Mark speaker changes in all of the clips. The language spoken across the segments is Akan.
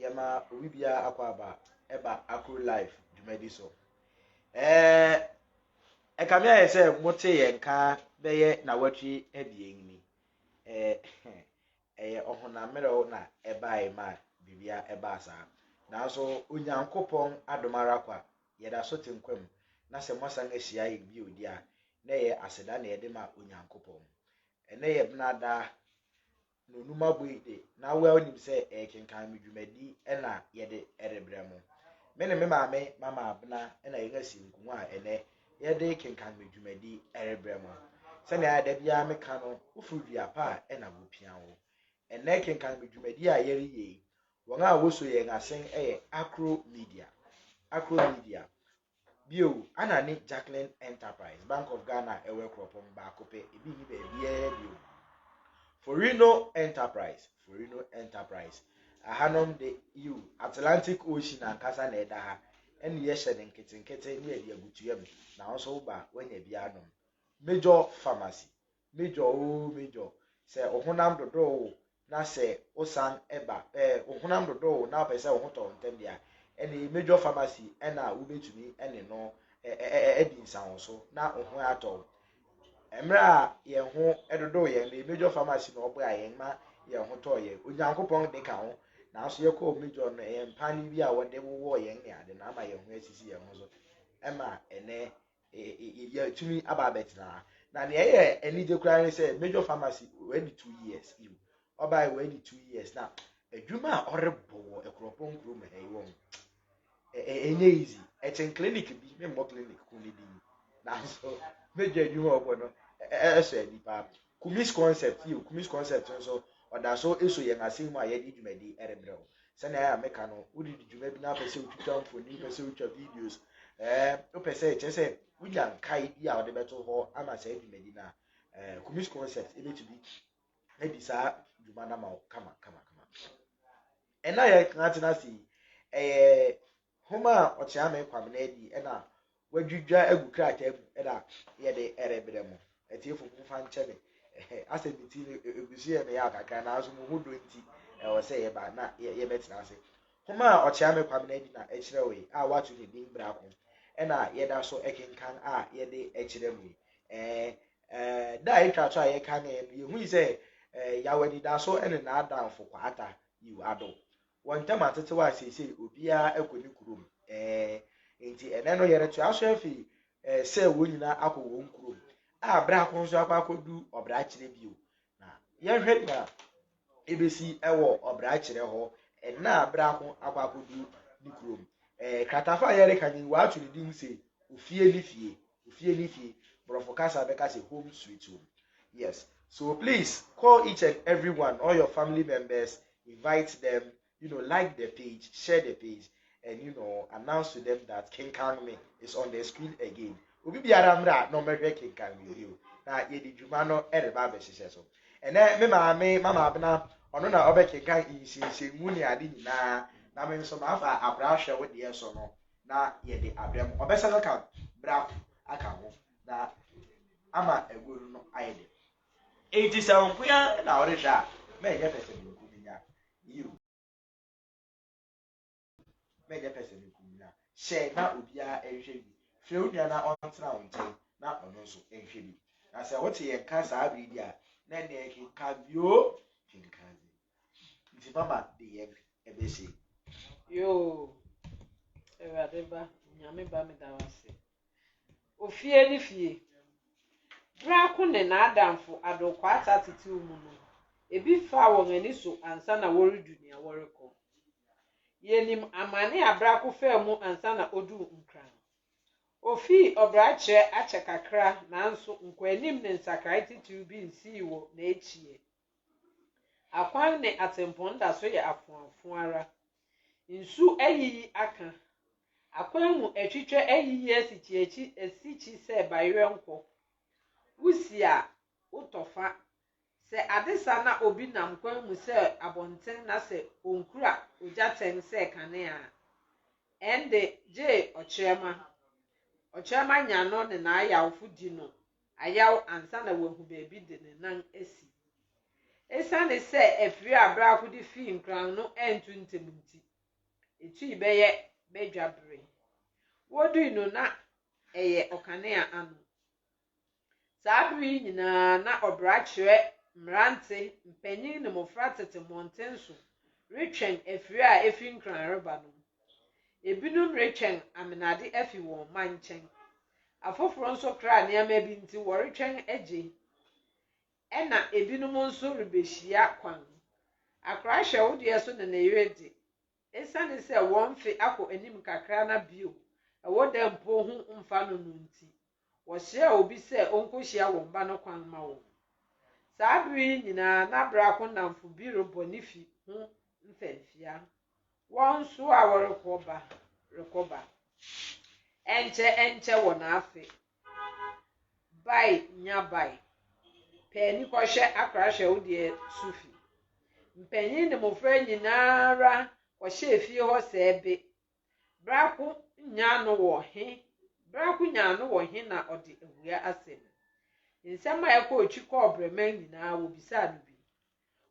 Speaker 1: yɛma obi biara akɔ aba ɛba akoro live dwumadi so ɛɛ ɛkame ayɛ sɛ mote yɛn nka bɛyɛ na wɔtwe abien ni ɛɛ ɛyɛ ɔhonammerɛw na ɛbae ma biribia ɛbaa saa nanso onyankopɔn adom ara kwa yɛda so te nkwa mu na sɛ moasan ahyia yɛ bio di a na ɛyɛ aseda na yɛde ma onyankopɔn ɛnɛ yɛ benada Na Onumabuei de, na well nim sɛ ɛyɛ kenkan me dwumadi na yɛde rebrɛ mo. Me ne me maame Mama Abena na yɛn asi nkongua a ɛnnɛ yɛde kenkan me dwumadi rebrɛ mo. Sɛnea da biara meka no, woforo dua pa a na wopia wo. Ɛnnɛ kenkan me dwumadi a yɛreyɛ yi, wɔn a woso yɛn asen yɛ Akro Media. Akro Media, Bio, Anna ne Jacqueline Enterprise Bank of Ghana a ɛwɔ Akuropong baako pɛ, ebi nni baabiara bio. Forino Enterprise Forino Enterprise Ɛhanom de, yiw, Atlantic Ocean ankasa na ɛda ha, ɛne yɛhyɛ no nketenkete ne yɛde agu tua mu, nanso woba a, woanya bi anom. Major Pharmacy Major oo Major, sɛ wo honam dodoo wo na sɛ wo san ba, eh, wo honam dodoo wo na wopɛ sɛ wo ho tɔ wo ntɛm de a, ɛnee Major Pharmacy na wobɛtumi ne no adi nsahɔso na wo ho atɔ wo. Mmerɛ a yɛn ho dodoo yɛn no, Major Pharmacy na ɔboaa yɛn ma yɛn ho tɔɔ yɛn. Onyankopɔn de ka ho, nanso yɛkɔɔ Major no, ɛyɛ mpaane bi a wɔde wowɔɔ yɛn ne ade na ama yɛn ho asisi yɛn ho so ma ɛnɛ yɛatumi aba abɛtena ha na nea ɛyɛ anigye koraa ne sɛ major pharmacy wɔadi two years yi ɔbae wɔadi two years na adwuma a ɔrebɔ wɔ ɛkorɔpɔn kurom ha yi wɔn ɛnyɛ easy ɛkyɛn clinic bi memmɔ clinic ko ne din nanso major adwuma ɔbɔ no ɛsɔ ani paa Kumis Concept, Yiw, Kumis Concept nso, ɔda so so yɛn asen mu a yɛde dwumadi rebrɛ wo. Sɛnea meka no, wode di dwuma bi na wopɛ sɛ wutwitwa mfoni, wopɛ sɛ wutwa videos, ɛɛ, wopɛ sɛ, kyerɛ sɛ, wunya nkae bi a wode bɛto hɔ ama saa dwumadi no a, ɛɛ, Kumis Concept betumi adi saa dwuma no ama wo kama kama kama. Ɛnna a yɛatena ase yi, ɛyɛ Hom a ɔtseaa me Kwamena adi na woedwidwa egu krataa mu na yɛdze rebrɛ mo etsiefo momfa nkyɛ me. Asɛmdzi no egusi yɛ me yaw kakra naaso mo ho dɔ ntsi ɔwɔ sɛ yɛba na yɛbɛtsena ase. Hom a ɔtseaa me Kwamena adi na ekyerɛwee a wɔato ne dzin Brakõ na yɛda so kenkan a yɛdze rekyerɛ mo yi. Eeh eeh da a etwa to a yɛkanee no yehui sɛ yaw anidaso ne n'adamfo kwata, yiw, adɔw. Wɔn ntam atetew a seesei obiara kɔ ne kurom. Ɛɛ. Enti ɛnnɛ no yɛretoa so afi ɛɛ sɛ wɔn nyinaa akɔ wɔn kurom a biako nso akɔ akɔdu ɔbrakyerɛ bio. Na yɛnhwɛ nea ebesi wɔ ɔbrakyerɛ hɔ ɛnnɛ a biako akɔ akɔdu ne kurom. Ɛɛ, kratafa a yɛreka no yi, wɔato ne din sɛ Ofie ne Fie. Ofie ne fie. Borɔfo kasa bɛka sɛ home sweet home. Yes. So please call each and everyone, all your family members, invite them, you know, like the page, share the page, and you know, announce to them that Kenkan Me is on the screen again. Obi biara mmra na ɔmɛhwɛ Kenkan Me bio. Na yɛde dwuma no ɛreba abɛhyehyɛ so. Ɛnɛ me maame, mama abena, ɔno na ɔbɛkenkan nsinsinmu ne ade nyinaa, na me nso mafa abra hwɛ wo deɛ so no. na yɛde abrɛ mo. Ɔbɛsan aka brako aka ho na ama agu no no ayɛ dɛ. Enti sɛ wo nkoa na worehwɛ a, ma ɛnyɛ pɛsɛmenku bi nya. Yiw, ma ɛnyɛ pɛsɛmenku bi nya. Hyɛ na obiara nhwɛ bi. Frɛ wo nua na ɔntena wo nkyɛn na ɔno nso nhwɛ bi. Na sɛ wote yɛn nka saa bere bi a, na ɛnneɛ kenkan bio, kenkan bio. Nti mama de yɛn ɛbɛsi. Yoo
Speaker 2: awurade ba nyame ba meda wo ase ofie ne fie bra ko ne n'adamfo adokwaata atetew mu no ebi faa wɔn ani so ansa na wɔredu nea wɔrekɔ yɛnim amane a bra ko faa mu ansa na oduu nkran ofii ɔbrakyerɛ akyɛ kakra nanso nkɔanim ne nsakrae titiriw bi nsii wɔ n'akyiɛ Akwan ne atempɔn da so yɛ afoafo ara. Nsu ayiyi aka. Akwan mu atwitwa ayiyi asikyiakyi asikyi sɛ bayerɛnkɔ. Wusi a, wotɔ fa. Sɛ ade sa na obi nam kwan mu sɛ abɔnten na sɛ onkura ogyatɛn sɛ kanea a, ɛnde gye ɔkyerɛma. Ɔkyerɛma nya no ne n'ayawfo di no ayaw ansa na wahu baabi de ne nan asi. Esiane sɛ afiri a Brako de fii nkuran no antu ntɛm nti, etui bɛyɛ badwa bere. Wodui no na ɛyɛ ɔkanea ano. Saa bere yi nyinaa na ɔbra kyerɛ mmerante, mpanyin ne mmofra tete mmɔnten so retwɛn afiri a efi nkuran reba no. Ebinom retwɛn amenade afi wɔn mma nkyɛn. Afoforo nso kra nneɛma bi nti wɔretwɛn agye, ɛnna ebinom nso rebehyia kwan. Akora hyɛ wo deɛ so ne ne yere de. Esiane sɛ wɔn mfe akɔ anim kakra na bio ɛwɔ da mpo ho mfa no no nti, wɔsrɛɛ obi sɛ onkohyia wɔn ba no kwan ma wɔn. Saa bere yi nyinaa na Brako nnamfo bi rebɔ ne fi ho mfɛmfia. Wɔn nso a wɔrekɔ ba, rekɔ ba. Ɛnkyɛ ɛnkyɛ wɔn afe. Bae nya bae. Pɛ ani kɔhwɛ akora hwɛ wo deɛ so fi. Mpanyin ne mmofra nyinaa ara kɔhyɛɛ fie hɔ sɛɛ be. Brako nya ano wɔ he brako nya ano wɔ he na ɔde awia asɛm. Nsɛm a ɛkɔɔ twi kɔɔ brɛman nyinaa wɔbisaa no bi.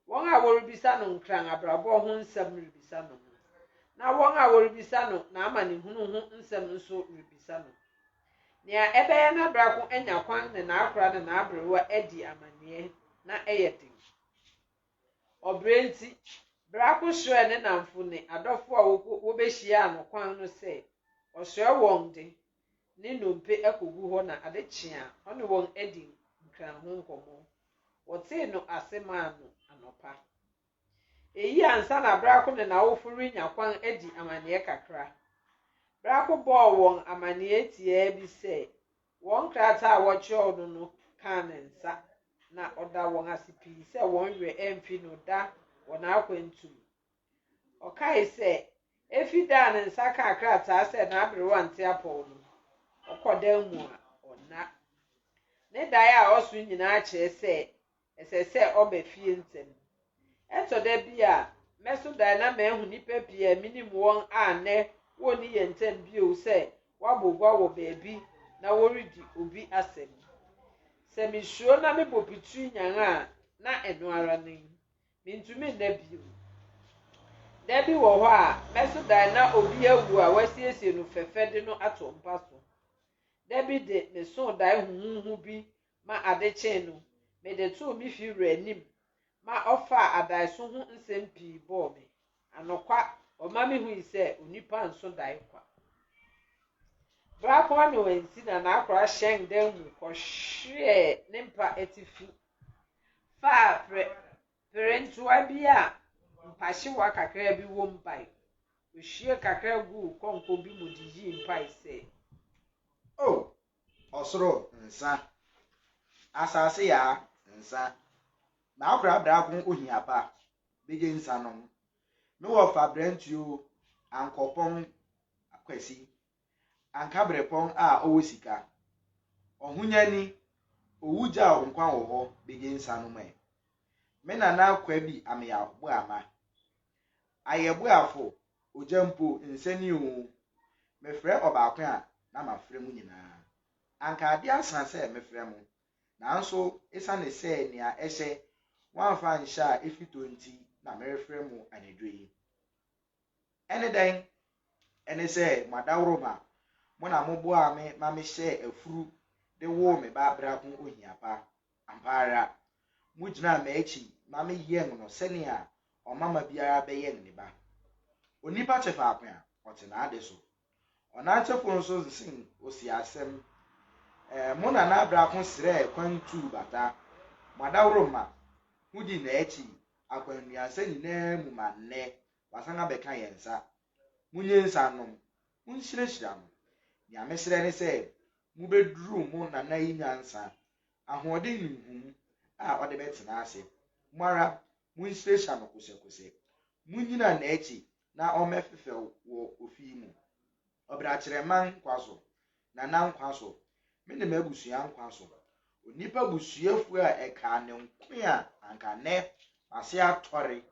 Speaker 2: Wɔn a wɔrebisa no Nkran abrabɔ ho nsɛm rebisa no no, na wɔn a wɔrebisa no n'amanehunu ho nsɛm nso rebisa no. Nea ɛbɛyɛ na Brako anya kwan ne n'akora ne n'aberewa adi amanneɛ na ɛyɛ den. Ɔbrɛ nti, Brako srɛɛ ne nnamfo ne adɔfo a wobehyiaa no kwan no sɛ ɔsrɛ wɔn de ne nnompe akogu hɔ na ade kye a, ɔne wɔn adi Nkran ho nkɔmmɔ. Wɔtee no ase maa no anɔpa. Eyi ansa na Brako ne n'awofo renya kwan adi amanneɛ kakra. Brako bɔɔ wɔn amanneɛ tiaa bi sɛ wɔn krataa a wɔkyerɛw no no kaa ne nsa, na ɔda wɔn ase pii sɛ wɔn werɛ amfi no da wɔ n'akwantu mu. Ɔkae sɛ, Efi da a ne nsa kaa krataa sɛ n'aberewa nte apɔw no, ɔkɔ dan mu a, ɔnna. Ne dae a ɔso nyinaa kyerɛ sɛ ɛsɛ sɛ ɔba fie ntɛm. Ɛtɔ da bi a, mɛso dae na mahu nnipa pii a minim wɔn a nnɛ wonni yɛn ntam bio sɛ wɔabɔ gua wɔ baabi na wɔredi obi asɛm. Sɛ misuro na mebɔ pitiri nyan a, na ɛno ara ni. Mintumi nna bio. Da bi wɔ hɔ a, mɛso dan na obi awu a wɔasiesie no fɛfɛ de no ato mpa so. Da bi de, mesoo dae huhuuhu bi ma ade kyee no, mede too me fi wura anim ma ɔfaa adaeso ho nsɛm pii bɔɔ me. Anokwa, ɔma mihui sɛ onipa nso dae kwa. Bere akron ne wɔansi na n'akora hyɛn dan mu kɔhweɛɛ ne mpa atifi faa perentoa bi a mpahyewa kakraa bi wom bae. Ohwiee kakra guu kɔnkɔ bi mu de yii mpae sɛ, O
Speaker 1: ɔsoro nsa, asase yaa nsa, m'akora brako ohia pa, begye nsa nom. Me wɔfa brɛnti o, ankɔpɔn akwasi anka berɛpɔn a ɔwɔ sika, ɔhonyani, owu gyaw nkwa wɔ hɔ begye nsa no mɛ. Me nana kwa bi ameaw bo ama. Ayɛ bo afo, ogya mpo nsɛ ni oo. Mefrɛ ɔbaako a na mafrɛ mo nyinaa. Anka ade asa sɛ mefrɛ mo, nanso esiane sɛ nea ɛhyɛ wɔamfa anhyɛ a efi tɔ nti na merefrɛ mo anadwo yi. Ɛne dɛn? Ɛne sɛ, mo adaworoma, mo na moboaa me ma mehyɛɛ afuru de woo me ba bere a ho ohia pa. Ampa ara, mugyinaa m'akyi ma meyɛn no sɛnea ɔmamma biara bɛyɛn ne ba. Onipa te faako a ɔte n'ade so, Ɔnatsefo nso sen osii asɛm. Ɛɛ, mo nana brako srɛɛ kwan tuu bata. Mo adaworoma ho dii n'akyi akwannuasa nyinaa mu ma nnɛ wasan abɛka yɛn nsa. Munnye nsa nnom. Munhyirahyira no. Nea mesrɛ ne sɛ mubeduru mo nana yi nyansa, ahoɔden ne nhumu a ɔde bɛtena ase. Mo ara, munhyirahyira no kosɛkosɛ. Munnyina n'akyi na ɔmmɛfefɛw wɔ ofi yi mu. Ɔbɛakyerɛman nkwa so, na na nkwa so, me ne m'abusua nkwa so, onipa busuafua a ɛkaa ne nko a anka nnɛ w'ase atɔre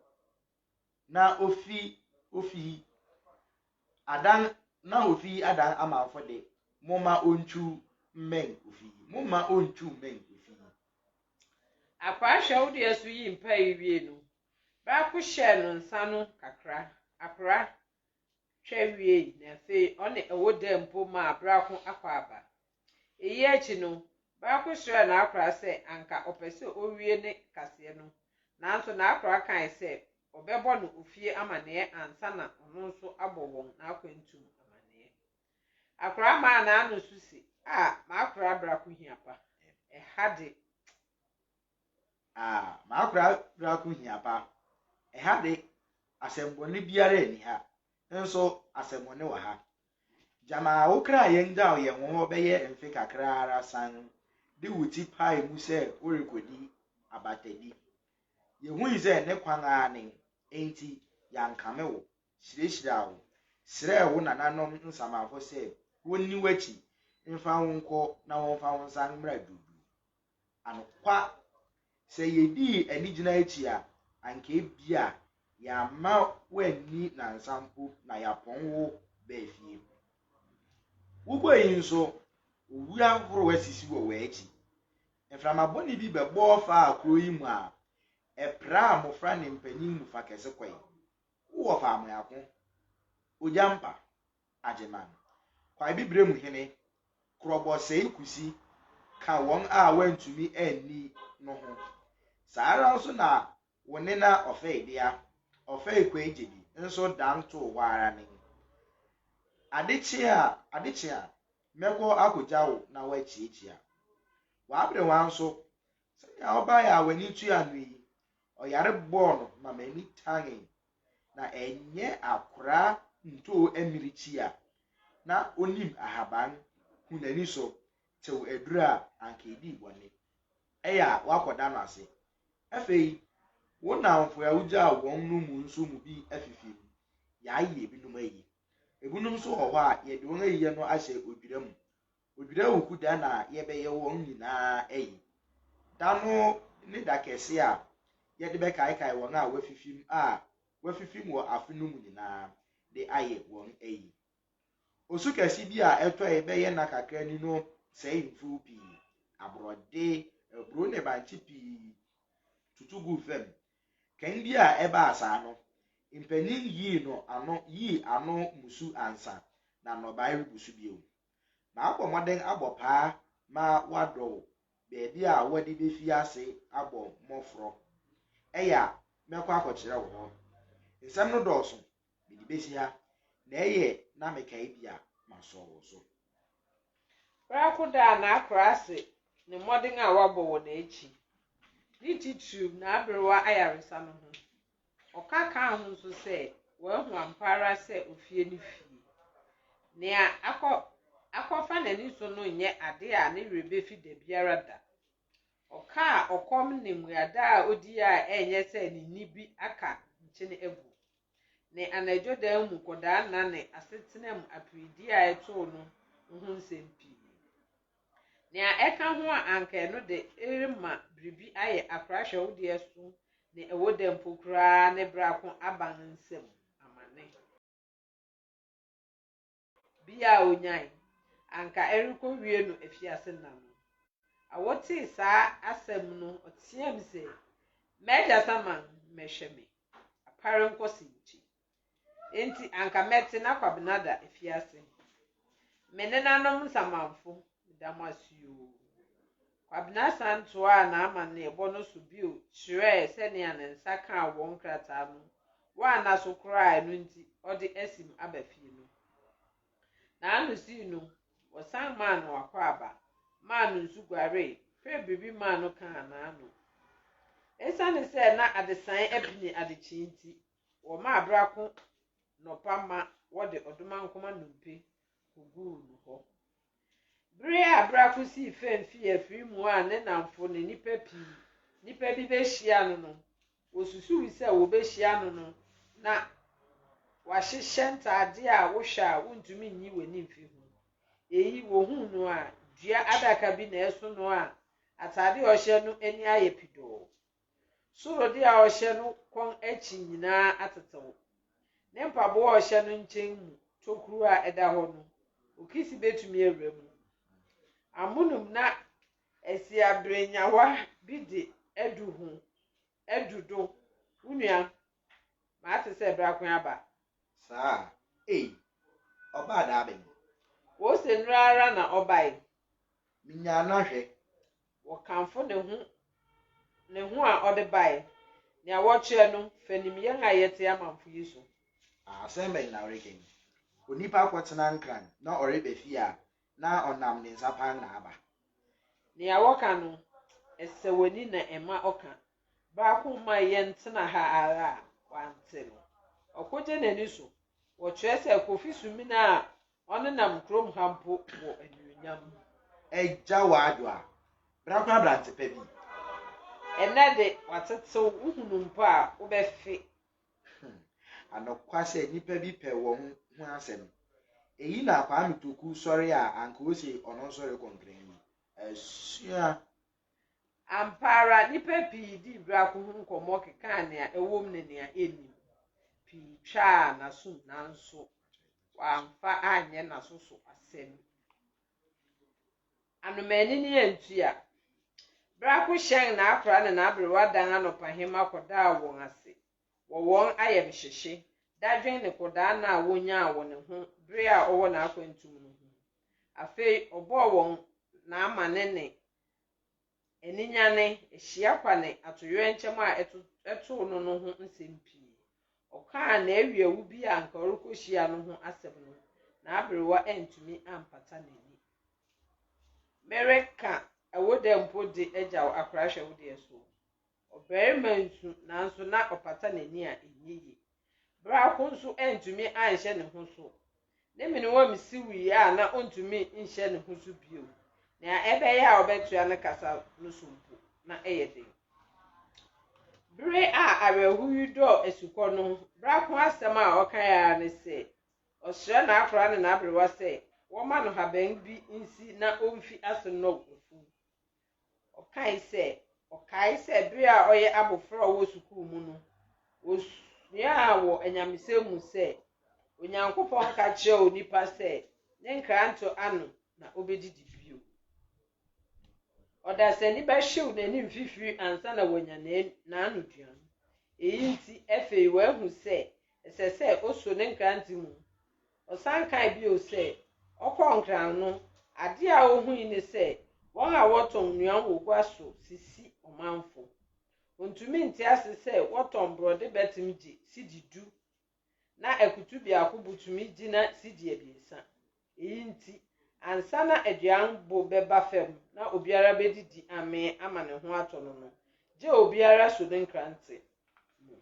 Speaker 1: na ofi ofi yi adan na ofi yi adan amanfo de, momma ontwiw mmɛn ofi yi, momma ontwiw mmɛn ofi yi. Akwaa hwɛ
Speaker 2: wo deɛ so yi mpae wie no Baako hyɛɛ no nsa no kakra. Akora twa wiei na afei ɔne ɛwo daa mpo maa Brako akɔ aba. Eyi akyi no, Baako srɛɛ n'akora sɛ anka ɔpɛ sɛ owie ne kaseɛ no, nanso n'akora kae sɛ ɔbɛbɔ no ofie amanneɛ ansa na ɔno nso abɔ wɔn n'akwantu mu amanneɛ. Akora maa n'ano so se, Ah, m'akora Brako hia pa. Ɛha de.
Speaker 1: Ah, m'akora prako hia pa. Ɛha de, asɛmmɔne biara nni ha, nso asɛmmɔne wɔ ha. Gyama wo kra yɛnnyaw yɛn wo hɔ bɛyɛ mfe kakra ara san de wo ti pae mu sɛ worekodi abatadi. Yehui sɛ ne kwan ara nen, enti yɛankame wo, hyirahyiraa wo, srɛɛ wo nananom nsamanfo sɛ wonni w'akyi mfa wo nkɔ na wɔmfa wo nsan mmra duruduru. Anokwa, sɛ yedii anigyina akyi a, anka ebia yɛamma woanni nnansa mpo na yɛapɔn wo baa fie. Wokɔ yi nso, owu ahorow asisi wɔ w'akyi. Mframa bɔne bi bɛbɔɔ faa kurow yi mu a ɛpraa mmofra ne mpanyin mu fa kɛse kɔe. Wowɔ faamuyako, ogyampa, Agyeman, Kwae Bibiremu Hene, Korɔbɔsɛe Kusi ka wɔn a wɔantumi anni no ho. Saa ara nso na wo nena Ɔfɛidea, Ɔfɛe Kwaigyedi, nso dan too hɔ ara nen. Ade kye a, ade kye a, mɛkɔ akogya wo na woakyiakyia. W'aberewa nso, sɛnea ɔbae a w'ani tua no yi, Ɔyare bɔɔ no ma m'ani tanee, na ɛnyɛ akoraa ntoo ammirekyi a na onim ahaban hu n'ani so tew aduru a anka edii bɔne. Ɛyɛ a woakɔda no ase. Afei wo nnamfo a wugyaa wɔn no mu nso mu bi afifi mu. Yɛayɛ ebinom ayi. Ebinom nso wɔ hɔ a yɛde wɔn ayiyɛ no ahyɛ odwira mu. Odwira wuku da na yɛbɛyɛ wɔn nyinaa ayi. Da no ne da kɛse a yɛde bɛkaekae wɔn a wɔafifim a wɔafifim wɔ afe no mu nyinaa de ayɛ wɔn ayi. Osu kɛse bi a ɛtɔe bɛyɛ nna kakra ni no sɛee mfuw pii, aborɔde, aburow ne bankye pii tutu guu fam. Kan bi a ɛbaa saa no, mpanyin yii no ano yii ano mmusu ansa na nnɔbae rebu so bio. Mabɔ mmɔden abɔ paa ma wɔadɔw baabi a wɔde befi ase abɔ mmɔfrɔ. Ɛyɛ a, mɛkɔ akɔkyerɛ wɔ hɔ. Nsɛm no dɔɔso, mede besi ha, na ɛyɛ na mekae bi a, masɔ wo so.
Speaker 2: Prako daa n'akoraase ne mmɔden a wabɔ wɔ n'akyi, ne titiriw n'aberewa ayaresa no ho. Ɔka kaa ho nso sɛ, Wahu ampa ara sɛ ofie ne fie. Nea akɔ akɔfa n'ani so no nyɛ ade a ne werɛ befi da biara da. Ɔkaa ɔkɔm ne mmuada a odii a ɛnyɛ sɛ ne nne bi aka nkyene agu, ne anadwo dan mu kɔdaa nna ne asetena mu aperedi a ɛtoo no ho nsɛm pii. Nea ɛka ho a anka ɛno de remma biribi ayɛ akora hwɛwode asu ne ɛwɔ dɛ mpo koraa ne brako aban nsam amane. Bi a onyae, anka ɛrekowie no afiase nna no. Awo tee saa asɛm no ɔteɛɛm se, M'agya Saman mmɛhwɛ me, apare nkɔse nti. Enti anka mɛte na Kwabena da afiase he. Me nenanom nsamanfo, meda mo ase oo. Kwabena san toaa n'amanneɛbɔ no so bio kyerɛɛ sɛnea ne nsa kaa wɔn krataa no wanna so koraa a ɛno nti ɔde asim aba fie no. N'ano sii no, wɔsan maa no akwaaba, maa no nsu guaree, pere biribi maa no kaa n'ano. Esiane sɛ na adesae apini adekyee nti, Wɔmaa berako nɔpa ma wɔde ɔdomankoma nnompe koguu no hɔ. Bere a berako sii fam fii afiri mu a ne nnamfo ne nnipa pii nnipa bi behyia no no, wosusuwii sɛ wobehyia no no na wahyehyɛ ntade a wohwɛ a wuntumi nyi w'ani mfi ho. Eyi, wohuu no a, dua adaka bi na ɛso no a atade a ɔhyɛ no ani ayɛ pidoo. Surode a ɔhyɛ no kɔn akyi nyinaa atetew. Ne mpaboa a ɔhyɛ no nkyɛn mu tokuru a ɛda hɔ no, okisi betumi awura mu. Amonom na asiaberenyawa bi de adu ho adu do, wo nua, mate sɛ bere ako aba. Saa?
Speaker 1: Ei, ɔbaa daabɛn? Wose
Speaker 2: nnora ara na ɔbae. Minyaa
Speaker 1: no ahwɛ. Wɔkamfo
Speaker 2: ne ho, ne ho a ɔde bae, nea wɔkyerɛ no fa nim yɛn a yɛte amamfo yi so. Asɛm bɛn
Speaker 1: na ɔrekan? Onipa akɔtena Nkran na ɔreba fie a na ɔnam ne nsa pan na aba. Nea
Speaker 2: wɔka no, ɛsɛ w'ani na ɛma ɔka. Baako mmae yɛn tena ha ara a wante no. Ɔkogye n'ani so. Wɔkyerɛ sɛ Kofi Sumina a Wɔnenam kurom ha mpo wɔ anuonyam. Agya
Speaker 1: Waadwo a, bra koraa aberante pa bi. Ɛnnɛ
Speaker 2: de, watetew, wohunu mpo a, wobɛfe.
Speaker 1: Anokwa sɛ nnipa bi pɛ wɔn ho asɛm. Eyi na Kwame Toku sɔre a anka ose ɔno nso rekɔ nkran yi. Asua.
Speaker 2: Ampa ara, nnipa pii dii Braco ho nkɔmmɔ kekaa nea ɛwom ne nea ennim. Pii twaa n'asom nanso wamfa anyɛ n'aso so asɛm. Anomaanini antua. Braco hyɛn n'akora ne n'aberewa dan anɔpahema kɔdaa wɔn ase. wɔ wɔn ayamhyehye, dadwen ne kɔdaanna a wonyaa wɔ ne ho bere a ɔwɔ n'akwantu mu no ho. Afei ɔbɔɔ wɔn n'amanne ne aninyanne, ahyia kwa ne atoyerɛnkyɛm a ɛtoo no no ho nsɛm pii. Ɔkaa n'awiawu bi a anka ɔrekohyia no ho asɛm no, n'aberewa antumi ampata n'ani. Mereka ɛwo dɛ mpo de agyaw akorahwɛ wo deɛ soɔ. Ɔbarima nsu, nanso na ɔpata n'ani a ɛnyɛ yie. Biako nso antumi anhyɛ ne ho so. Ne menewam siwii a na ɔntumi nhyɛ ne ho so bio. Nea ɛbɛyɛ a ɔbɛtoa ne kasa no so mpo, na ɛyɛ den. Bere a awerɛhow yi dɔɔ asukɔ no, biako asɛm a ɔkae ara ne sɛ, ɔsrɛ n'akoraa ne n'aberewa sɛ wɔmma no haban bi nsi na omfi ase nnɔw afuw. Ɔkae sɛ, Ɔkae sɛ bere a ɔyɛ abofra a ɔwɔ sukuu mu no, osuaa wɔ anyamesɛm mu sɛ Onyankopɔn ka kyerɛɛ onipa sɛ ne nkranto ano na obedidi bio. Ɔdasani bɛhyew n'ani mfifiri ansa na wanya n'anoduan. Eyi nti, afei wahu sɛ ɛsɛ sɛ oso ne nkrante mu Ɔsan kae bio sɛ, ɔkɔɔ Nkran no, ade a ohui ne sɛ wɔn a wɔtɔn nnuan wɔ gua so sisi ɔmanfo. Ontumi nte ase sɛ wɔtɔn borɔde bɛtem gye cedi du, na akutu biako bo tumi gyina cedi abiɛsa. Eyi nti, ansa na aduan bo bɛba fam na obiara bedidi amee ama ne ho atɔ no no, gye obiara so ne nkrante mu.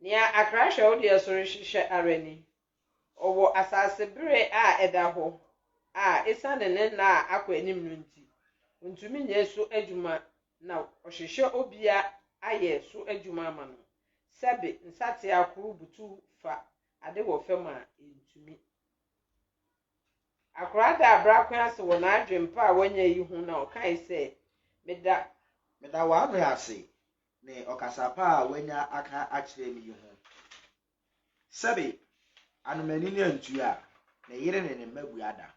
Speaker 2: Nea Accra Kyerɛwdeɛ so rehwehwɛ ara ni, Ɔwɔ asase bere a ɛda hɔ a esiane ne nna a akɔ anim no nti, ontumi nyɛ so adwuma na ɔhwehwɛ obi a ayɛ so adwuma ama no. Sɛbe nsateaa koro butuw fa ade wɔ fam a, entumi. Akora daa brakõ ase wɔ n'adwempa a wanya yi ho na ɔkae sɛ, Meda. Meda w'ahoɛ
Speaker 1: ase. ne ɔkasa pa a wanya aka akyerɛ me yi ho. Sɛbe anomanini antua a, ne yere ne ne mma bua da.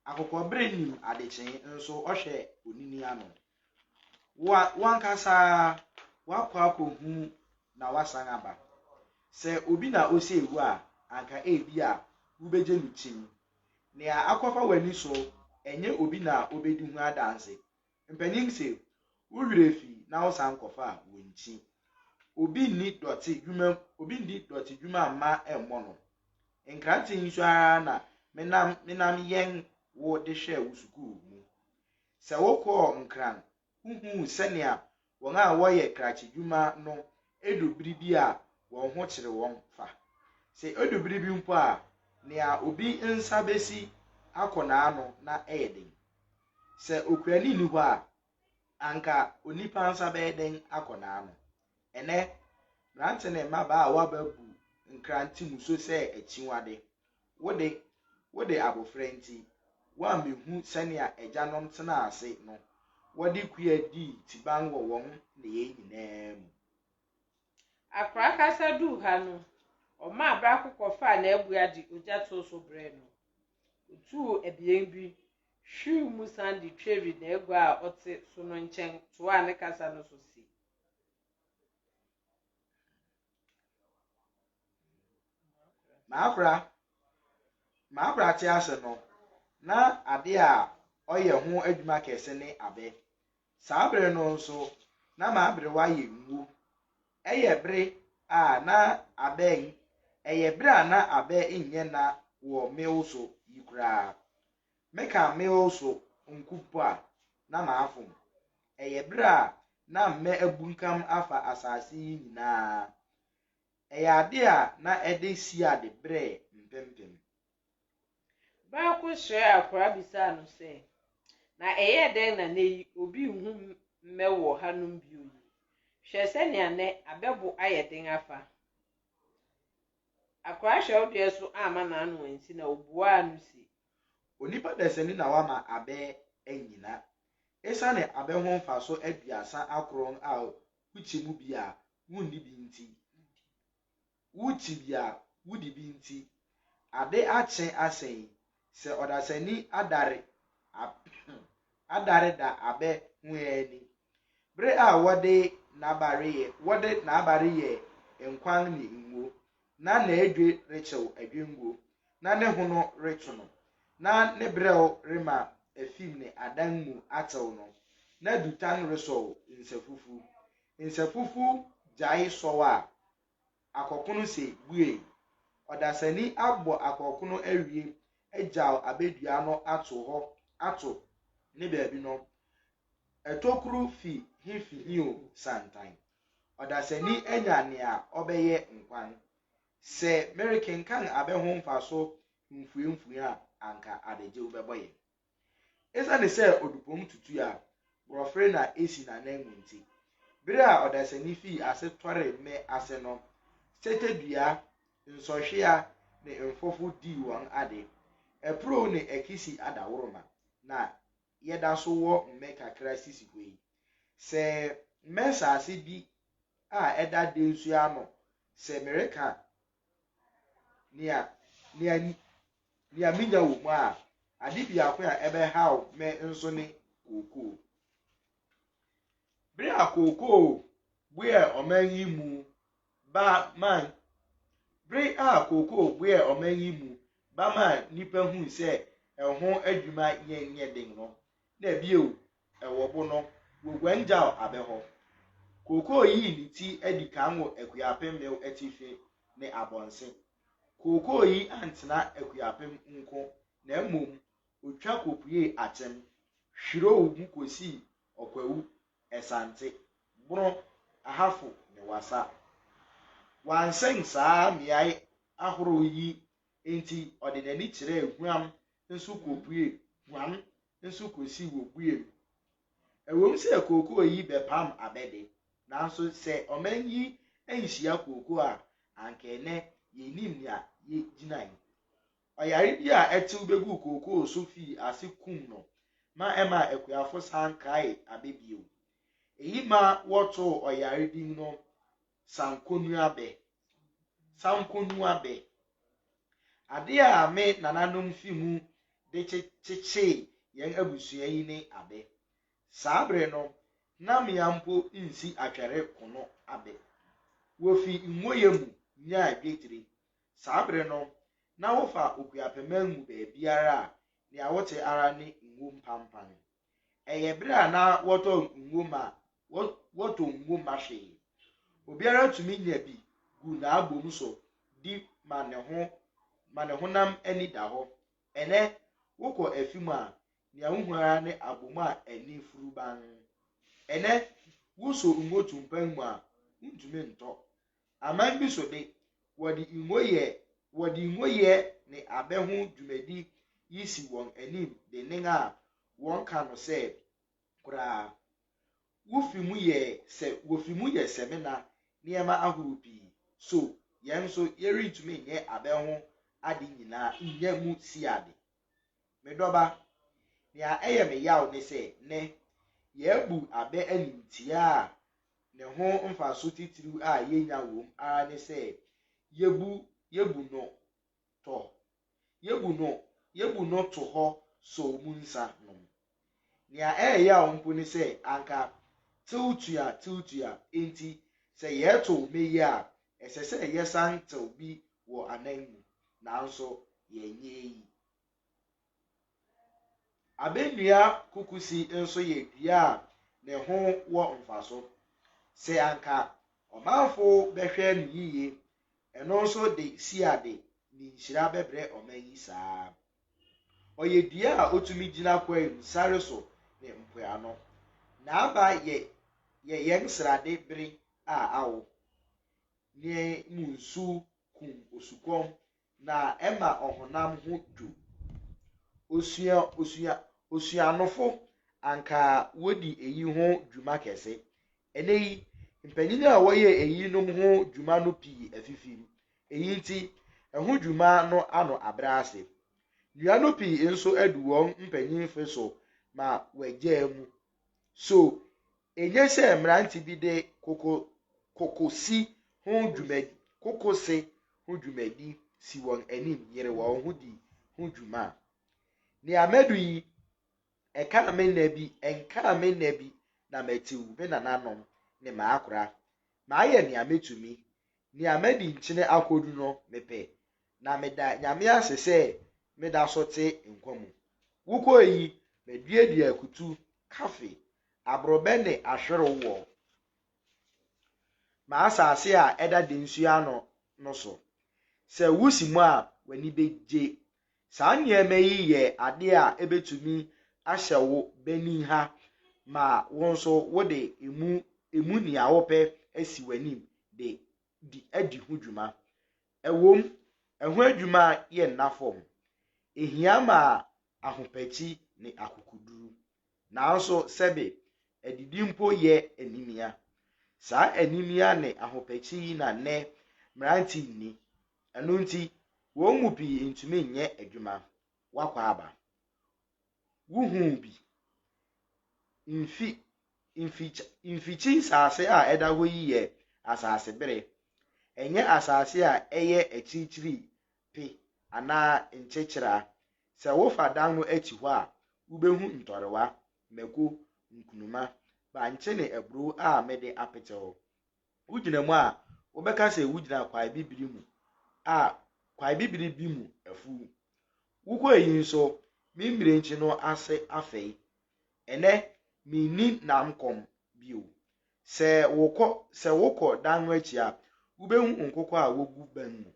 Speaker 1: Akokɔbere nim adekyee nso ɔhwɛ onini ano. Wo a w'ankasa woakɔ akɔhu na woasan aba. Sɛ obi na osee wo a, anka ebia wubegye no kyim. Nea akɔfa w'ani so, ɛnyɛ obi na obedi ho adanse, Mpanyin se wo werɛ fi na wo san kɔfa a wo nkyi. Obi nni dɔte dwuma obi ndi dɔte dwuma mma ɛmmɔ no. Nkrante yi so ara na me nam me nam yɛn wo de hwɛɛ wo sukuu mu. Sɛ wo kɔɔ Nkran wo huu sɛnea Wɔn a wɔyɛ krakyedwuma no du bere bi a wɔn ho kyere wɔn fa. Sɛ edu bere bi mpo a, nea obi nsa besi akɔ n'ano na ɛyɛ den. Sɛ okuani nni hɔ a, anka onipa nsa bɛyɛ den akɔ n'ano. Ɛnnɛ, mmerante ne mmabaawa bu nkrante mu so sɛ akyiwade. Wo de, wode abofra nti, woammehu sɛnea agyanom tenaa ase no, wɔde kua dii tiban wɔ wɔn nneyɛe nyinaa mu.
Speaker 2: Akora kasa duu ha no, ɔmaa baako kɔfaa n'abua de ogya too so brɛɛ no. Otuu abien bi, hwiw mu san de tweri n'agua a ɔte so no nkyɛn toaa ne kasa no so se.
Speaker 1: Maakora, maakora te ase no, na ade a ɔyɛ ho adwuma kɛse ne abɛ. Saa bere no nso, na m'aberewa yɛ ngu. Ɛyɛ bere a na abɛ ɛyɛ bere a na abɛ nyɛ na wɔ mewo so yi koraa. Meka meal so nku mpo a, na mafom. Ɛyɛ bere a na mmɛ abunkam afa asase yi nyinaa. Ɛyɛ ade a na ɛde siade bere mpempem.
Speaker 2: Bere koro sraɛ akwadaa bisaa no sɛ, Na ɛyɛɛ dɛn na nnɛ yi obi nhu mmɛ wɔ hanom bio yi? Hwɛ sɛnea nnɛ abɛ bo ayɛ den afa! Akwadaa hwɛwdeɛ so amma n'ano ansi na obuaa no se, Onipa
Speaker 1: dasani na wama abɛ anyina. Esiane abɛ ho mfaso aduasa akron a wokyɛ mu bi a wunni bi nti, wokyi bi a wudi bi nti, ade akye asɛn yi, sɛ ɔdasani adare adare da abɛ ho ani Bere a wɔde n'aba reyɛ wɔde n'aba reyɛ nkwan ne ngo, na n'adwe rekyew adwengo, na ne hono reto no, na ne brɛw rema afim ne adan mu atew no, na dutan resɔw nsafufu. Nsafufu gyae sɔw a, akɔkono se buei. Ɔdasani abɔ akɔkono awie agyaw abedua no ato hɔ ato ne baabi no, Tokuru fi he fi he o, Santan. Ɔdasani anya nea ɔbɛyɛ nkwa no. Sɛ merekenkan abɛ ho mfaso mfuamfua a, anka adagyew bɛbɔ yɛn. Esiane sɛ odupɔm tutu a borɔfere na esi n'ananmu nti, bere a ɔdasani fii ase tɔree mmɛ ase no, setedua, nsɔhwea, ne mfofo dii wɔn ade. Apurow ne akisi adaworoma na yɛda so wɔ mmɛ kakra sisi hɔ yi. Sɛ mmɛ nsase bi a ɛda dɛ nsu ano, sɛ mereka nea, nea, nea minya wɔ mu a, ade biako a ɛbɛhaw me nso ne kookoo. Bere a kookoo buee ɔman yi mu Ba man. Bere a kookoo boɛɛ ɔman yi mu ba maa nnipa hui sɛ ɛho adwuma yɛ nyɛ den no, na bio, ɛwɔ bo no, woguan gyaw abɛ hɔ. Kookoo yii ne ti adi kan wɔ Akuapem mew atifi ne Abɔnse. Kookoo yi antena Akuapem nko na mmom otwa kopuee Atem, Hwirow mu kosii Ɔkwawu, Asante, Bono, Ahafo ne Wassa. Wansɛn saa mmeae ahorow yi nti ɔde n'ani kyerɛɛ Guam nso kopuee Guam nso kosii wɔ Buem. Ɛwom sɛ kookoo yi bɛpam abɛ de, nanso sɛ ɔman yi anhyia kookoo a anka ɛnnɛ yennim nea yegyinae. Ɔyare bi a ɛtew beguu kookoo so fii ase kum no ma ɛmaa akuafo san kaee abɛ bio. Eyi ma wɔtoo ɔyare din no Sankonuabɛ, Sankonuabɛ. Ade a me nananom fi mu de kyekyee yɛn abusua yi ne abɛ. Saa bere no, na mmea mpo nsi atwɛre kono abɛ. Wofi ngo yɛ mu nyaa dwetire, Saa bere no, na wofa Okuapɛman mu baabiara a, nea wote ara ne ngo mpanpan. Ɛyɛ bere a na wɔtɔ ngo ma wɔ, wɔtɔ ngo ma hwee. Obiara tumi nya bi gu n'abom so di ma ne ho, ma ne honam ani da hɔ. Ɛnnɛ, wokɔ afi mu a, nea wuhu ara ne abom a ani furu bann. Ɛnnɛ, woso ngo tumpan mu a, wuntumi ntɔ. Aman bi so de, wɔde ngo yɛ wɔde ngo yɛ ne abɛ ho dwumadi yi si wɔn anim dennen a wɔka no sɛ koraa. Wofi mu yɛ sɛ wofi mu yɛ samina nneɛma ahorow pii. So yɛn nso yɛrentumi nyɛ abɛ ho ade nyinaa nnya mu siade? Me dɔba, nea ɛyɛ me yaw ne sɛ nnɛ yɛabu abɛ animtiaa a ne ho mfaso titiriw a yenya wom ara ne sɛ yebu yebu no tɔ, yebu no yebu no to hɔ sow mu nsa nom. Nea ɛreyaw mpo ne sɛ anka tew tua tew tua nti, sɛ yɛretow nnɛ yi a, ɛsɛ sɛ yɛsan tew bi wɔ anan mu. Nanso yɛnyɛ eyi. Abɛnnua kukusi nso yɛ dua a ne ho wɔ mfaso. Sɛ anka ɔmanfo bɛhwɛ no yiye, ɛno nso de siade ne nhyira bɛbrɛ ɔman yi saa ara. Ɔyɛ dua a otumi gyina kwae mu, sare so, ne mpoano. N'aba yɛ yɛ yɛn srade bere a awo ne mu nsu kum osukɔm na ɛma ɔhonam ho dwo. Osua osua osuanofo anka wodi eyi ho dwuma kɛse, Ɛnnɛ yi, mpanyin a wɔyɛ eyinom ho dwuma no pii afifim, eyi nti ɛho dwuma no ano abrɛ ase. Nnua no pii nso adu wɔn mpanyimfe so ma wɔagyaa mu. So enye sɛ mmerante bi de koko kokosi ho dwumadi, kokose ho dwumadi si wɔn anim yere wɔn ho di ho dwuma? Nea madu yi Ɛkaa me nna bi, ɛnkaa me nna bi, na matew me nananom ne m'akora. Mayɛ nea metumi. Nea madi nkyene akodu no, mepɛ, na meda Nyame ase sɛ meda so te nkwa mu. Wokɔe yi, maduadua akutu, kafe, aborɔbɛ ne ahwerew wɔ m'asase a ɛda densuo ano no so. Sɛ wusi mu a, w'ani begye Saa nneɛma yi yɛ ade a ebetumi ahyɛ wo banin ha ma wo nso wode emu emu nea wopɛ asi w'anim de di adi ho dwuma. Ɛwom, ɛho adwuma yɛ nna fam, ehia ma ahopakyi ne akokoduru. Nanso sɛbe, adidi mpo yɛ animia. Saa animia ne ahopakyi yi na nnɛ mmerante nni, Ɛno nti, wɔn mu pii ntumi nyɛ adwuma. W'akwaaba. Wuhuu bi? Mfi, mfikyi, mfikyi nsase a ɛda hɔ yi yɛ asase bere. Ɛnyɛ asase a ɛyɛ akyirikyiri pe anaa nkyekyera. Sɛ wofa dan no akyi hɔ a, wubehu ntɔrewa, mako, nkunuma, bankye ne aburow a mede apetew. Wogyina mu a, wobɛka sɛ wogyina kwae bibiri mu a kwae bibiri bi mu afuw. Wokɔ eyi nso, me mmirenkyi no ase afɛe. Ɛnnɛ, minni nam kɔm bio. Sɛ wokɔ sɛ wokɔ dan no akyi a, wubehu nkokɔ a wogu bɛn mu.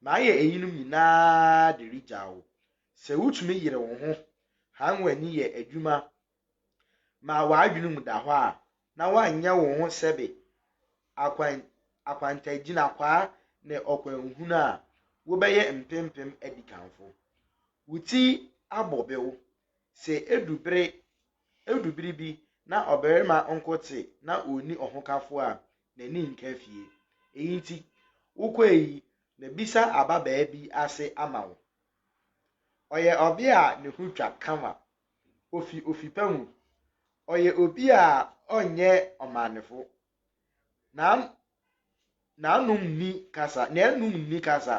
Speaker 1: Mayɛ eyinom nyinaa de regyaw wo. Sɛ wutumi yere wo ho hann w'ani yɛ adwuma ma w'adwene mu da hɔ a, na woanyɛ wo ho sɛbe. Akwan, akwantaagyinakwaa ne ɔkwanhunu a wobɛyɛ mpempem adikanfo. Wo ti abɔ bew. Sɛ edu bere, edu bere bi na ɔbarima nko te na onni ɔhokafo a, n'ani nka fie. Eyi nti, wokɔe yi, mabisa ababaa bi ase ama wo. Ɔyɛ ɔbea a ne ho twa kama Ofi ofi pa mu. Ɔyɛ obi a ɔnyɛ ɔmaanefo. N'an n'anom nni kasa, n'anum nni kasa.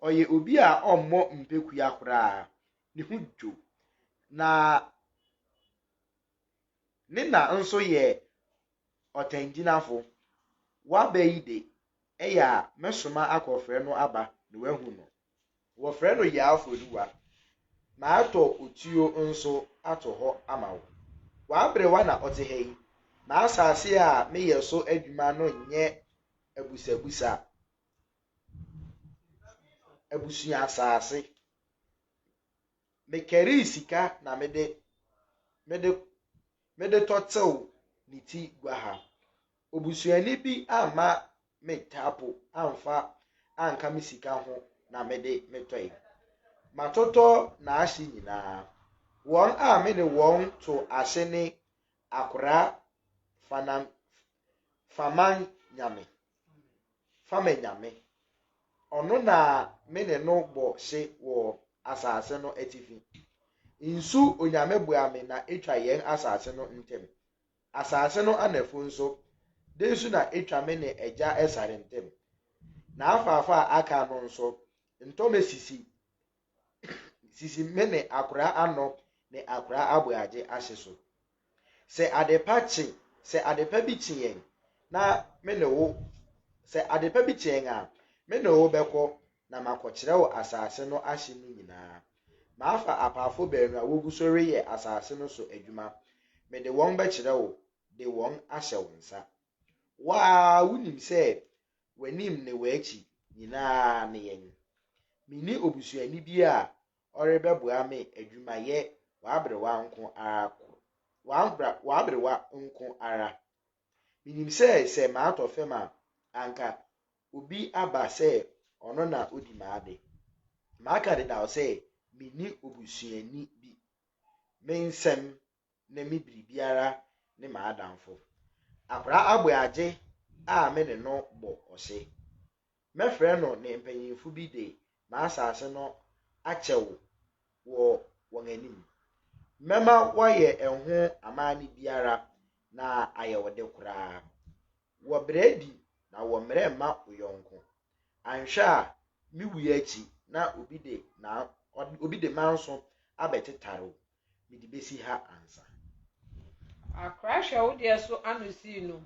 Speaker 1: Ɔyɛ obi a ɔmmɔ mpekua koraa. Ne ho dwo. Na ne na nso yɛ ɔtangyinafo. Waba yi de, ɛyɛ a mɛsoma akɔfrɛ no aba na wahu no. Wɔfrɛ no Yaafoduwa. Matɔ otuo nso ato hɔ ama wo. W'aberewa na ɔte ha yi. M'asase a meyɛ so adwuma no nyɛ abusabusa abusua asase. Mekarii sika na mede mede mede tɔtew ne ti gua ha. Obusuani bi amma me taapo amfa anka me sika ho na mede me tɔe. Matotɔ n'ahye nyinaa. Wɔn a me ne wɔn to ase ne Akora Fanam Faman Nyame, Fama Nyame. Ɔno na me ne no bɔ hye wɔ asase no atifi. Nsu Onyame boa me na etwa yɛn asase no ntam. Asase no anafo nso, dɛn so na etwa me ne agya Esar ntam? N'afaafa a aka no nso, ntɔmmɛ sisi sisi me ne akoraa ano ne akoraa aboagye ahye so. Sɛ adepa kye, sɛ adepa bi kye yɛn na me ne wo, sɛ adepa bi kye yɛn a, me ne wo bɛkɔ na makɔkyerɛw asase no ahye no nyinaa. Mafa apaafo baanu a wogu so reyɛ asase no so adwuma, mede wɔn bɛkyerɛ wo de wɔn ahyɛ wo nsa. Wo ara wunim sɛ w'anim ne w'akyi nyinaa ne yɛn. Minni obusuani bi a ɔrebɛboa me adwumayɛ w'aberewa nko ara w'aberewa nko ara. Minim sɛ sɛ matɔ fam a, anka obi aba sɛ ɔno na odi m'ade. Maka dedaw sɛ minni obusuani bi. Me nsɛm ne me biribiara ne m'adamfo. Akwadaa aboagye a me ne no bɔ ɔse. Mɛfrɛ no ne mpanyimfo bi de n'asase no akyɛ wo wɔ wɔn anim. Mɛma wɔayɛ ɛho amanne biara na ayɛ wo de koraa. Wɔ brɛ adi na wɔ mmerɛ mma wo yɔnko. Anhwɛ a me wuo akyi na obi de obi de manso abɛtetare wo. mede bɛsi ha ansa.
Speaker 2: Akorahwɛ wo deɛ so ano sii no.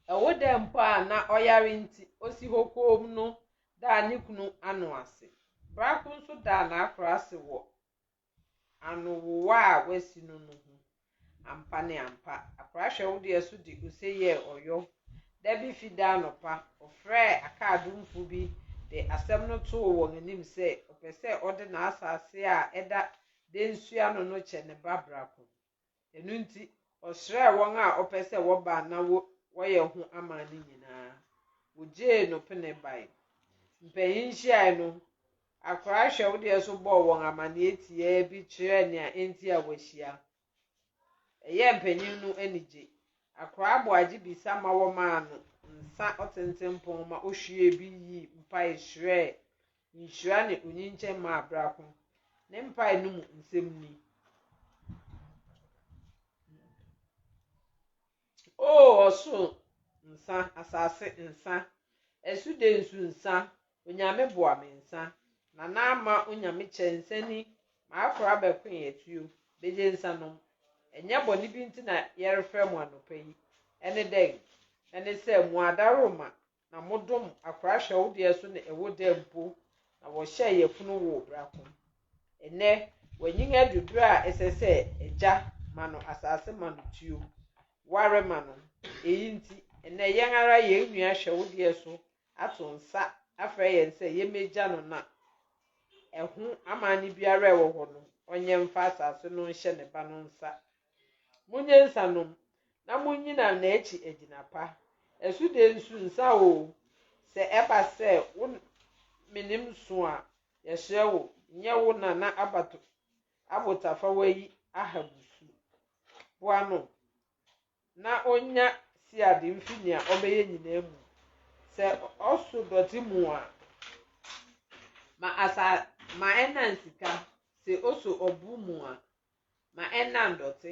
Speaker 2: Ɛwo dɛ mpo a na ɔyare nti ɔsi hɔ koom no daa ne kunu ano ase. Brako nso daa n'akora ase wɔ anowowa a wasi no no ho. Ampa ne ampa, akorahwɛ wo deɛ so de ose yɛɛ ɔyɔ Da bi Fida anɔpa, ɔfrɛɛ akaadomfo bi de asɛm no too wɔn anim sɛ ɔpɛ sɛ ɔde n'asase a ɛda Densu ano no kyɛ ne ba Brako. Ɛno nti, ɔsrɛɛ wɔn a ɔpɛ sɛ wɔba na wɔyɛ ho aman no nyinaa. Wogyee no pene bae. Mpanyin nhyiae no, akora hwɛwdeɛ so bɔɔ wɔn amanneɛ tiaa bi kyerɛɛ nea enti a wɔahyia. Ɛyɛɛ mpanyin no anigye. Akoraa Boagye bisa ma wɔmaa no nsa ɔtentempɔn ma ohwiee bi yii mpae srɛɛ nhyira ne onyinkyɛn maa Brako. Ne mpae no mu nsɛm ni. O ɔsoro nsa, asase nsa, asuden nso nsa, Onyame boa me nsa, na na ama Onyame kyɛ nsa ni, maakora abɛkoe atuo, begye nsa nom. Ɛnyɛ bɔne bi nti na yɛrefrɛ mo anɔpa yi. Ɛne dɛn? Ɛne sɛ mo ada roma, Na modom akora hwɛ wo deɛ so ne ɛwo dɛ mpo na wɔhyɛɛ yafunu woo brako. Ɛnɛ wanyin adu berɛ a ɛsɛ sɛ agya ma no asase ma no tuo, ware ma no. Eyi nti ɛnɛ yɛn ara yɛn nua hwɛ wo deɛ so ato nsa afrɛ yɛn sɛ yɛmmɛgya no na ɛho amanne biara a ɛwɔ hɔ no ɔnyɛ mfa asase no nhyɛ ne ba no nsa Monyɛ nsa nnom, na munnyina n'akyi agyina pa. Ɛso de nsu nsa oo, sɛ ɛba sɛ wo menem so a, yɛsrɛ wo, nyɛ wo nana abato abotafawa yi Ahabu su. Boa no na onnya siade mfi nea ɔbɛyɛ nyinaa mu. Sɛ ɔso dɔte mu a, ma asa ma ɛnnan sika, sɛ oso ɔbo mu a, ma ɛnna ndɔte.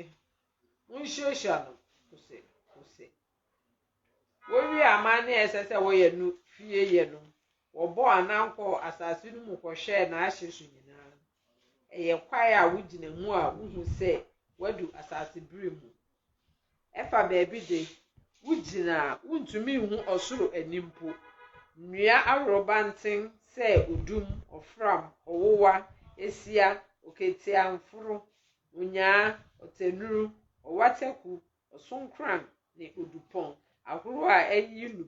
Speaker 2: Munsuasua no kose kose. Wowie amanne a ɛsɛ sɛ wɔyɛ no fie yɛ no, wɔbɔɔ anan kɔɔ asase no mu kɔhwɛɛ n'ahye so nyinaa. Ɛyɛ kwae a wogyina mu a wuhu sɛ woadu asase bere mu Ɛfa baabi de, wugyina a, wuntumi nhu ɔsoro ani mpo. Nnua aworobanten sɛ odum, ɔfram, ɔwowa, esia, oketiamforo, onyaa, ɔtɛnuru, ɔwataku, ɔsonkoran, ne odupɔn ahorow a ayi no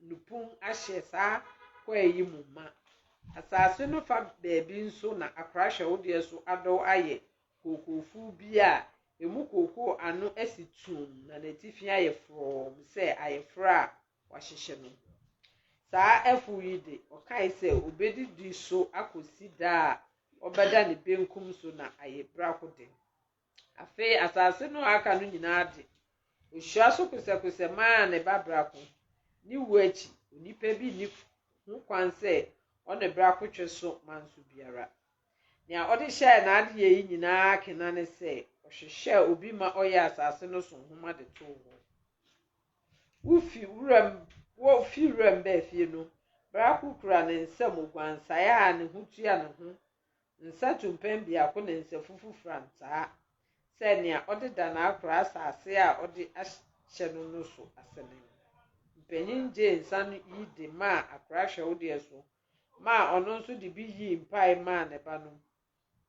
Speaker 2: no pun ahyɛ saa kwae yi mu ma. Asase no fa baabi nso na akora hyɛwodeɛ so adɔw ayɛ kookoofuu bi a emu kookoo ano asi tumm na n'atifi ayɛ frɔmm sɛ ayeforo a wɔahyehyɛ no. Saa afuw yi de, ɔkae sɛ obedidi so akosi da a ɔbɛda ne benkum so na ayɛ birakode. Afei asase no a aka no nyinaa de, ohyira so kosɛkosɛ maa ne ba Brako. Ne wu akyi, onipa bi nni ho kwan sɛ ɔne Brako twe so manso biara. Nea ɔde hyɛɛ n'adeyɛ yi nyinaa akena ne sɛ ɔhwehwɛɛ obi ma ɔyɛɛ asase no so nhoma de too hɔ. Wofi wuram Wofi wuram baa fie no, Brako kura ne nsam oguansae a ne ho tua ne ho Nsato-mpɛn biako na nsafufu frantaa sɛ nea ɔde da no akora asase a ɔde ahyɛ no no so ase no. Mpanyin gyee nsa no yi de maa akora hwɛwdeɛ so maa ɔno nso de bi yii mpae maa ne ba no.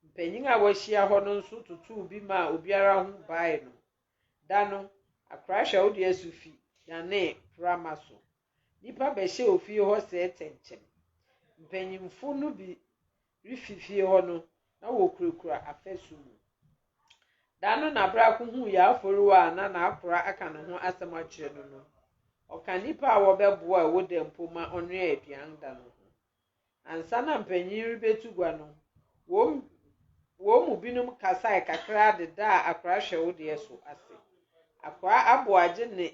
Speaker 2: Mpanyin a wɔahyia hɔ no nso totoo bi maa obiara ho bae no. Da no, akora hwɛwdeɛ so fi danee prama so. Nnipa bɛhyɛ ofie hɔ sɛɛ kyɛnkyɛm. Mpanyimfo no bi refi fie hɔ no, na wokurakura afasu mu. Da no na bere a kohuu Yaaforiwa a na n'akora aka ne ho asɛm akyerɛ no no, ɔka nnipa a wɔbɛboa a ɛwɔ dɛm mpo ma ɔnoaa aduan da no ho. Ansa na mpanyin yi rebetu gua no, wɔn wɔn mu binom kasae kakraa de daa akora hwɛwodeɛ so ase. Akora aboagye ne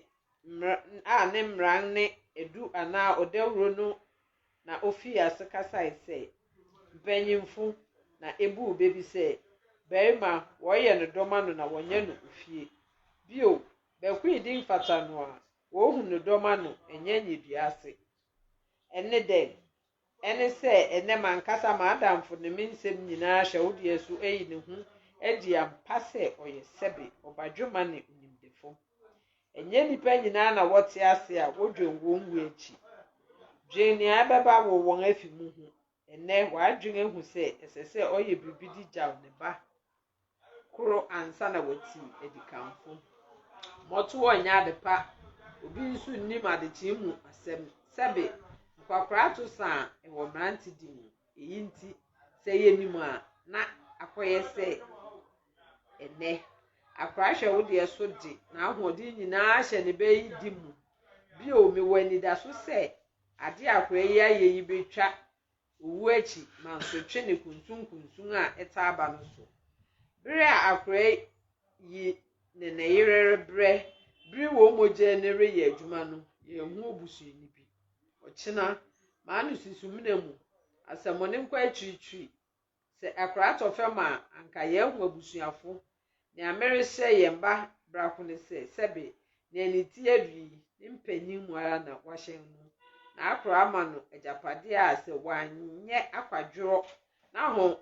Speaker 2: a ne mmran ne edu anaa ɔdawuro no na ofii ase kasae sɛ, Mpanyimfo, na ebuu bɛ bi sɛ, Barima, wɔreyɛ no dɔm ano na wɔnyɛ no ofie. Bio, Bakuidi mfata no a, wɔrehu no dɔm ano, ɛnyɛ nyedua ase. Ɛne dɛn? Ɛne sɛ ɛnnɛ m'ankasa m'adamfo ne me nsɛm nyinaa hyɛ wo deɛ so ayi ne ho adi ampa sɛ ɔyɛ sɛbe, ɔbadwemma ne onimdefo. Ɛnyɛ nnipa nyinaa na wɔte ase a wodwen wɔn wu akyi. Dwen nea ɛbɛba wɔ wɔn afi mu ho. Ɛnnɛ, w'adwene ahu sɛ ɛsɛ sɛ ɔyɛ biribi de gyaw ne ba? koro ansa na wati adikanfo. Mmɔtoɔ nyɛ ade pa, obi nso nnim adekyee mu asɛm. Sɛbe, nkwakoraato sa a ɛwɔ mmerantedi mu. Eyi nti, sɛ yɛnim a, na akɔyɛ sɛ ɛnnɛ. Akora hwɛ wo deɛ so de n'ahoɔden nyinaa hyɛ ne bɛyidi mu. Bio, mewɔ anidaso sɛ ade a akora yi ayɛ yi betwa Owu akyi mansotwe ne kunsunkunsun a ɛtaa ba no so. Bere a akoa yi ne ne yere rebrɛ bere wɔn mogya ani reyɛ adwuma no, yɛrehu obusuani bi. Ɔkyena, m'ano si sumina mu, asɛmmɔne nkɔ akyirikyiri. Sɛ akora tɔ fam a, anka yɛahu abusuafo Nea merehyɛ yɛn mma brako ne sɛ, sɛbe nea ne ti adu yi, ne mpanyin mu ara na wɔahyɛn no, na akora ama no agyapade a sɛ wanyɛ akwadworɔ na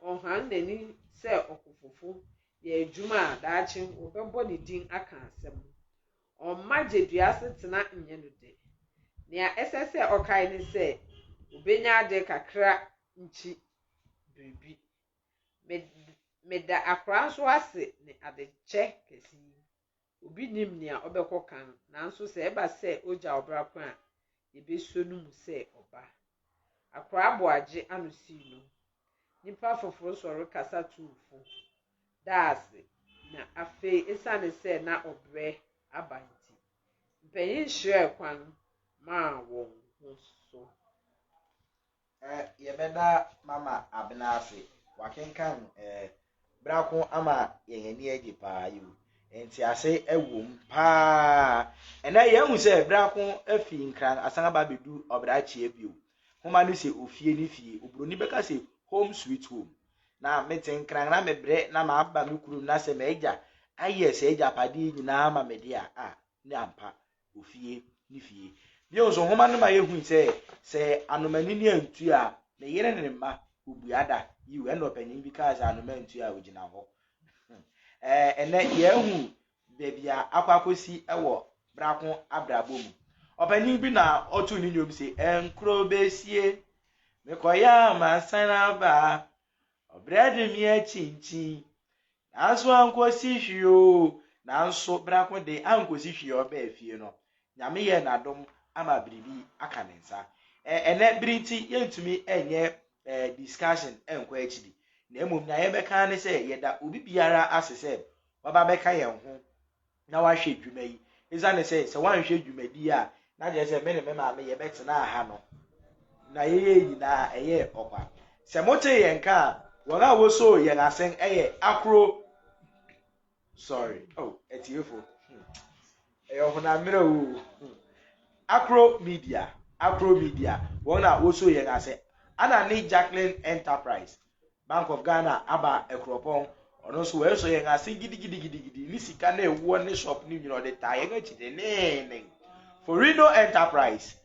Speaker 2: ɔhan n'ani sɛ ɔkofofo yɛ adwuma a, daakye wɔbɛbɔ ne din aka asɛm. Ɔmma gyedua asetena nyɛ no dɛ. Nea ɛsɛ sɛ ɔkae ne sɛ, obenya ade kakra nkyi biribi. Me meda akora nso ase ne adekyɛ kɛse yi. Obi nnim nea ɔbɛkɔ kan, nanso sɛ ɛba sɛ ogya ɔbra kwan a, yebeso no mu sɛ ɔba. Akora aboagye ano sii no, nnipa foforo sɔre kasa tuu fo, daa ase, na afei esiane sɛ na ɔbrɛ aba nti, mpanyin hyerɛɛ kwan maa wɔn ho so. Eh,
Speaker 1: yɛbɛda Mama Abena ase. Wakenkan eh, Brako ama yɛn ani agye paa yi. Ntease ɛwom paa. Ɛnɛ yɛahu sɛ Brako afi Nkran asan aba abɛdu Ɔbrakyea bio. Homa no sɛ ofie ne fie. Oburoni bɛka sɛ home sweet home. Na mete Nkran na mebrɛ na maba me kurom na sɛ m'agya ayɛ saa agyapadeɛ nyinaa ma me deɛ a, ah, ne ampa wɔ fie ne fie. Bio nso, nhoma no ma yehui sɛ, sɛ anoma anini antu a, ne yere ne ne mma wobua da. Yiw, ɛnna ɔpanyin bi kaa sɛ, Anoma antu a, ogyina hɔ. Ɛnnɛ, yɛahu baabi a akɔ akosi wɔ bra ko abrabɔ mu. Ɔpanyin bi na ɔtoo ne nnwom se, Ɛnkoro besie, mekɔyɛ a masan aba, ɔbrɛ de me akyinkyin, Nanso ankosi hwee oo. Nanso Brako de, ankosi hwee ɔbaa fie no, Nyame yɛɛ n'adom ama biribi aka ne nsa. Ɛ, ɛnnɛ bere nti yɛntumi nyɛ ɛ, discussion nkɔ akyiri, na mmom nea yɛbɛka ara ne sɛ yɛda obi biara ase sɛ waba abɛka yɛn ho na wahwɛ adwuma yi. Esiane sɛ sɛ wanhwɛ dwumadi yi a, na kyerɛ sɛ me ne me maame yɛbɛtenaa ha no, na yɛyɛɛ nyinaa ɛyɛɛ ɔkwa. Sɛ motee yɛn nka a, wɔn a wosoo yɛn asen yɛ ahorow. Sorry, oh, atiefo. Hmm. Ɛyɛ ɔhonam mmerɛ o. Hmm. Akro Media, Akro Media, wɔn na wosoo yɛn ase. Ana ne Jacqueline Enterprise, Bank of Ghana aba Akuropɔn. Ɔno nso wɔasɔ yɛn ase gidigidigidi ne sika na ɛwɔ ne shop no nyina ɔde taa yɛn akyi denneenen. Forino Enterprise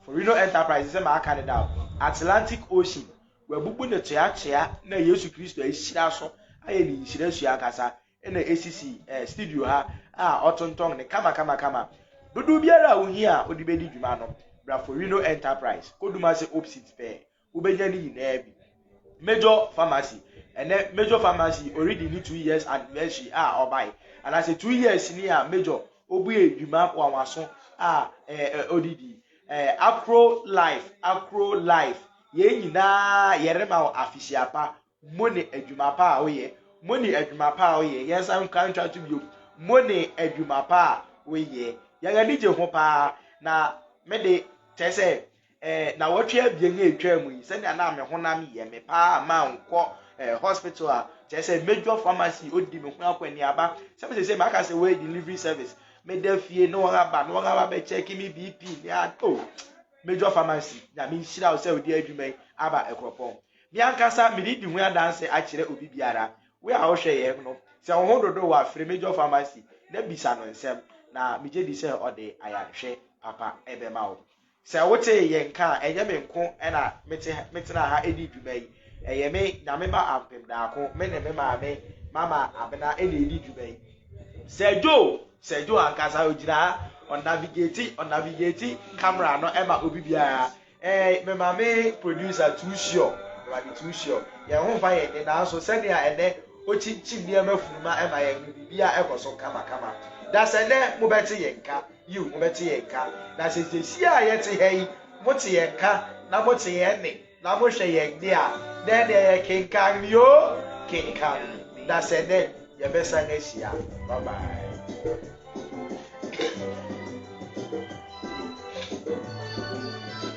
Speaker 1: Forino Enterprise sɛ maaka ne da Atlantic Ocean wɔabubu ne toatoa na Yesu Kristo ahyira so ayɛ ne nhyira sua ankasa na ɛsisi eh, studio ha a ɔtontɔn ne kamakamakama dodow biara a wohia a ɔde bɛdi dwuma no bra Forino Enterprise kɔduma sɛ opsit pɛɛ wobɛnya ne nyinaa bi major pharmacy ɛnɛ major pharmacy already ne two years anniversary a ɔbae anaasɛ two years ni a major obue adwuma wanwaso a odidi akro life akro life yɛn nyinaa yɛrema wo afisiapa Mo ne adwuma pa a woyɛ. Mo ne adwuma pa a woyɛ. Yɛn nsa nkura ntwa to bio. Mo ne adwuma pa a woyɛ. Yɛn ani gye ho paa. Na me de, kyerɛ sɛ, eh, na wɔtwe abien a etwa mu yi, sɛnea na me honam yɛ me paa a mankɔ eh, hospital a, kyerɛ sɛ major pharmacy odi me ho akɔneaba. Sɛ me sɛ maka sɛ wɔyɛ delivery service, meda fie na wɔn aba na wɔn aba bɛkyɛke me BP ne a, oh, major pharmacy, nyame nhyira wo sɛ wode adwuma yi aba ɛkorɔpɔn. Me ankasa me redi ho adanse akyerɛ obi biara. Wo a wohwɛ yɛn no, sɛ wo ho dodo wo a, frɛ Major Pharmacy na bisa no nsɛm, na migye di sɛ ɔde ayarehwɛ papa bɛma wo. Sɛ wotee yɛn nka a, ɛnyɛ me nko na mete ha, metena ha di dwuma yi. Ɛyɛ me, Nyame ma ampem daako, me ne me maame, Mama Abena, na edi dwuma yi. Sir Joe, Sir Joe ankasa, ogyina ha, ɔnavigeti, ɔnavigeti camera no ma obi biara. Ɛɛ, me maame producer Too Sure, me maame Too Sure. Yɛn ho mfa yɛn de, nanso sɛnea ɛnnɛ okyinkyin nneɛma funu ma ɛma yɛn no, biribiara kɔ so kamakama. Na sɛ nnɛ mobɛte yɛn nka, yiw, mobɛte yɛn nka. Na sɛ seesei a yɛte ha yi, mote yɛn nka, na mote yɛn nne, na mohwɛ yɛn de a, na ɛnneɛ yɛkenkan me o, kenkan me. Na sɛ nnɛ yɛbɛsan ahyia. Bye bye.